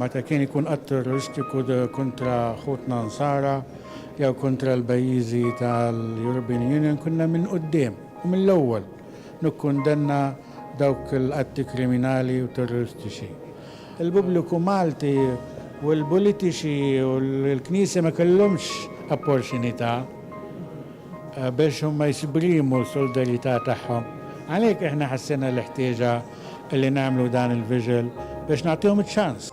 meta kien ikun att terroristiku kontra ħutna Nsara jew kontra l-pajjiżi tal-European Union kunna minn quddiem u mill-ewwel nikkundanna dawk l-atti kriminali u terroristiċi. Il-pubbliku Malti u l-politiċi u l-Knisja ma kellhomx opportunità biex huma jesprimu s-solidarjetà tagħhom. Għalhekk aħna ħassejna l-ħtieġa li nagħmlu dan il-viġil biex nagħtihom iċ-ċans.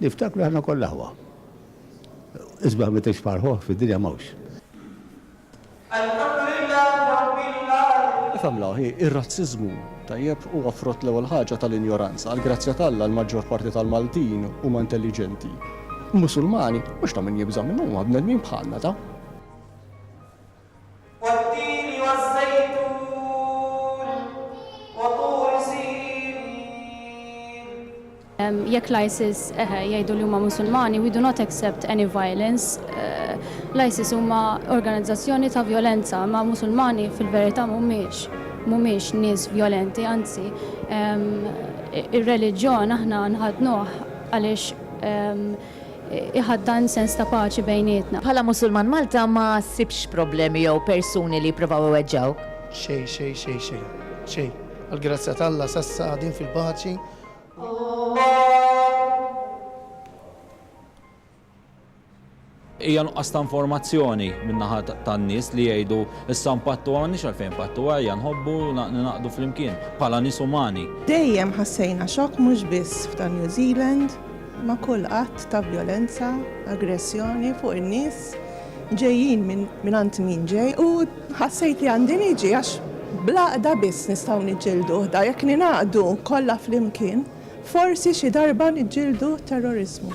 Niftakru aħna kollha aħwa. Isbaħ meta jixbaħ l-ħoh fid-dinja m'hawnx. Ifhem l-aħ, hi, ir-razziżmu. Tajjeb, huwa frott l-ewwel ħaġa tal-injoranza. Għall-grazzja t'Alla, l-maġġor parti tal-Maltin huma intelliġenti. Musulmani, mhux ta' min jibża' minnhom, huma bnedmin bħalna, ta. wat-tini waż-żejtun wa Tur Sinin. Jekk l-ISIS, eħe, jgħidu li huma Musulmani, we do not accept any violence, l-ISIS huma organizzazzjoni ta' vjolenza, imma Musulmani fil-verità mhumiex, mhumiex nies vjolenti, anzi, ir-reliġjon aħna nħaddnuh għaliex, iħaddan sens ta' paċi bejnietna. Bħala Musulman Malta ma ssibx problemi jew persuni li jippruvaw iweġġgħuk? Xejn, xejn, xejn, xejn, xejn. Għall-grazzja t'Alla s'assa qagħdin fil-paċi u. Hija nuqqas ta' informazzjoni min-naħa tan-nies li jgħidu issa npattu m'għandniex għalfejn npattu ejja nħobbu u ningħaqdu flimkien bħala nies umani. Dejjem ħassejna xokk mhux biss f'dan New Zealand. ma' kull att ta' vjolenza, aggressjoni fuq in-nies, ġejjin mingħand min ġej, u ħassejt li għandi niġi għax bl-għaqda biss nistgħu niġġielduh dan, jekk ningħaqdu kollha flimkien, forsi xi darba niġġieldu t-terroriżmu.